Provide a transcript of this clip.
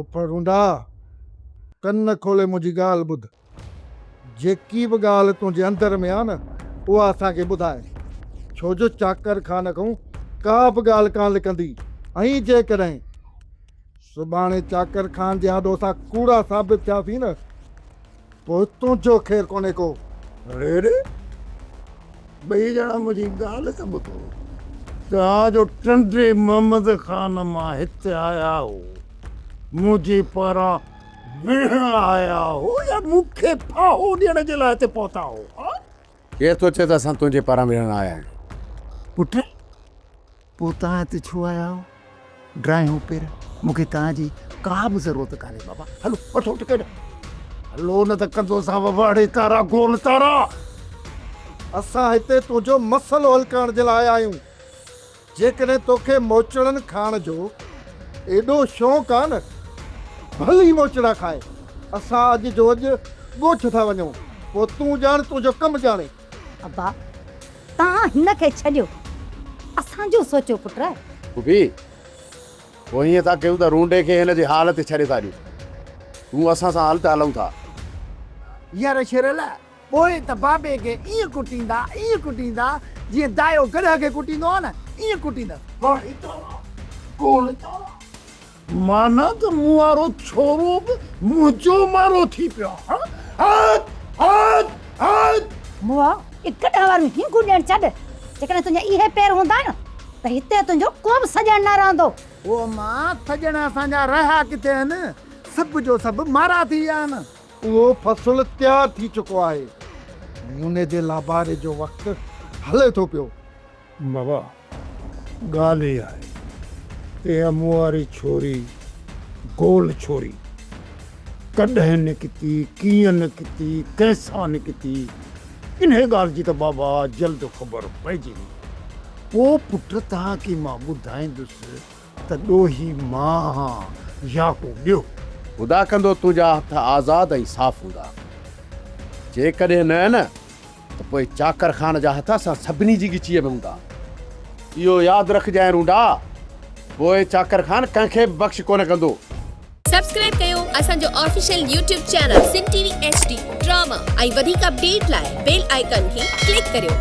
پڦر رونڊا! ڪن کولي منهنجي ڳالهه ٻڌ. جيڪي به ڳالهه تنهنجي اندر ۾ آ نه، اها اسان کي ٻڌاء. ڇو جو چاڪر خان کون ڪا به ڳالهه ڪانه لڪندي ۽ جيڪڏهن سڀاڻي چاڪر خان جي آڏو اسان ڪوڙا ثابت ٿياسين نه، پوء تنهنجو خير ڪونهي ڪو. اڙي اڙي! ٻئي ڄڻا منهنجي ڳالهه ته ٻڌو. توهان جو ٽنڊي محمد خان مان هت آيا هو، منهنجي پاران وڙهڻ آيا هو يا مون کي ڦاهو ڏيڻ جي لاء هتي پهتا هو؟ ها؟ ڪير ٿو چئي ته اسان تنهنجي پاران وڙهڻ آيا آهيون؟ پٽ! پوء توهان هتي ڇو آيا آهيو؟ ڊراهيون پير، مون کي توهان جي ڪا به ضرورت ڪانهي بابا. هلو وٺو ٽڪيٽ. هلو نه ته ڪندوسان وواڙي تارا گول تارا. اسان هتي تنهنجو مسئلو حل ڪرڻ جي لاء آيا آهيون. جيڪڏهن توکي موچڙن کائڻ جو ايڏو شوق آهي نه، ڀلي موچڙا کاء. اسان اڄ جو اڄ ڳوٺ ٿا وڃون، پوء تون ڄاڻ تنهنجو ڪم ڄاڻي. ابا توهان هن کي ڇڏيو اسان جو سوچو پٽ. ڦوڦي پوء هيئن ٿا ڪيون ته رونڊي کي هن جي حال تي ڇڏي ٿا ڏيون. تون اسان سان هل ته هلون ٿا. يار شيرل پوء ته بابي کي ائين ڪٽيندا ائين ڪٽيندا جيئن دايو گڏهه کي ڪٽيندو آهي نه ائين ڪٽيندس. ڪاڻي ڪاڻا ڪاڻي ڪاڻا. معنيٰ ته مون وارو ڇورو به منهنجو مارو ٿي پيو آهي. موئا اک ڏهه واريون هينگون ڏيڻ ڇڏ. جيڪڏهن تنهنجا اهي پير هوندا نه ته هتي تنهنجو ڪو به سڄڻ نه رهندو. او ماء سڄڻ اسان جا رهيا ڪٿي آهن. سڀ جو سڀ مارا ٿي ويا آهن. اهو فصل تيار ٿي چڪو آهي. موني جي لاباري جو وقت هلي ٿو پيو. بابا ڳالهه هي آهي ته اها مون واري ڇوري، گول ڇوري، ڪڏهن نڪتي، ڪيئن نڪتي، ڪنهن سان نڪتي، انهيء ڳالهه جي ته بابا جلد خبر پئجي ويندي. پوء پٽ توهان کي مان ٻڌائيندس. ته ڏوهي مان هان يا ڪو ٻيو. خدا ڪندو تنهنجا هٿ آزاد ۽ صاف هوندا. جيڪڏهن نه نه ته پوء چاڪر خان جا هٿ اسان سڀني جي ڳچيء ۾ هوندا. اهو ياد رکجانء رونڊا، پوء چاڪر خان ڪنهن کي به بخش ڪونه ڪندو. سبسڪرائب ڪيو اسان جو official YouTube channel Sindh T V H D drama ۽ وڌيڪ اپڊيٽ لاء بيل آئيڪان کي ڪلڪ ڪريو.